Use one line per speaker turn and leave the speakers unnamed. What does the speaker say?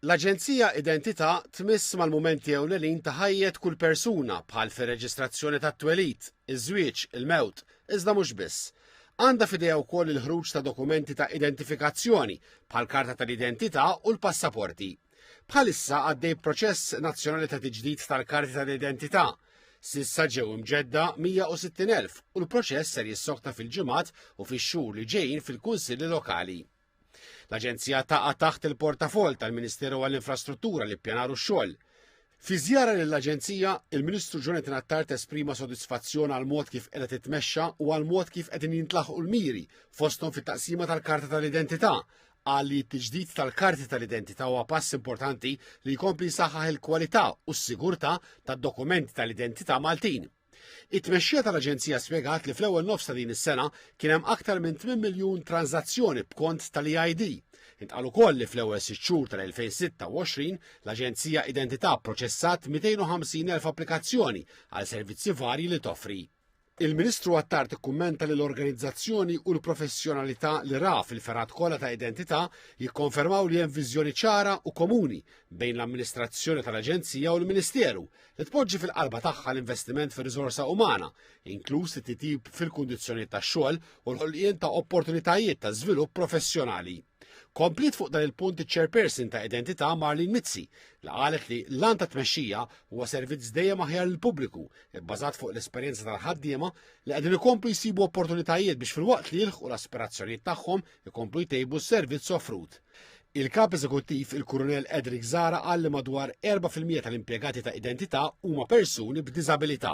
L-Aġenzija Identità tmiss mal-mumenti ewlenin ta' ħajjet kull persuna bħal fir-reġistrazzjoni tat-twelid, iż-żwieġ, il-mewt, iżda mhux biss. Għandha f'idejha wkoll il-ħruġ ta' dokumenti ta' identifikazzjoni bħall-karta tal-identità u l-passaporti. Bħalissa għaddej proċess nazzjonali ta' tiġdid tal-karti tal-identità. Sissa ġew imġedda 160,000 u l-proċess ser jissokta fil-ġimgħat u fix-xhur li ġejjin fil-kunsilli lokali. L-Aġenzija taqa' taħt il-portafoll tal-Ministeru għall-Infrastruttura li ppjanaru x-xogħol. Fi żjara lill-Aġenzija, il-Ministru Jonathan Attard esprima sodisfazzjon għal mod kif qiegħda titmexxa u għal mod kif qegħdin jintlaħqu l-miri fosthom fit-taqsima tal-Karta tal-Identità. Qal li t-tiġdid tal-karti tal-identità huwa pass importanti li jkompli jsaħħaħ il-kwalità u s-sigurtà tad-dokumenti tal-identità Maltin. It-tmexxija tal-Aġenzija spjegat li fl-ewwel nofs ta' din is-sena kien hemm aktar minn 8 miljun tranżazzjoni b'kont tal-EID. Intqal ukoll li fl-ewwel sitt xhur tal-2026 l-Aġenzija Identità pproċessat 250,000 applikazzjoni għal servizzi varji li toffri. Il-Ministru Attar tikkummenta li l-organizzazzjoni u l-professjonalità li ra fil-fergħat kollha ta' identità jikkonfermaw li hemm viżjoni ċara u komuni bejn l-amministrazzjoni tal-Aġenzija u l-Ministeru li tpoġġi fil-qalba tagħha l-investiment fir-riżorsa umana, inkluż it-titjib fil-kundizzjonijiet tax-xogħol u l-ħolqien ta' opportunitajiet ta' żvilupp professjonali. Komplit fuq dan il-punt iċ-chairperson ta' Identità Marlin Mizzi li qalet li l-lan ta' tmexxija huwa servizz dejjem aħjar lill pubbliku bbażat fuq l-esperjenza tal-ħaddiema li qegħdin ikomplu jsibu opportunitajiet biex filwaqt li jilħqu l-aspirazzjonijiet tagħhom ikomplu jtejbu s-servizz offrut. Il-Kap Eżekuttiv il-Kurunell Edric Zara qal li madwar 4% tal-impjegati ta' identità huma persuni b'diżabilità.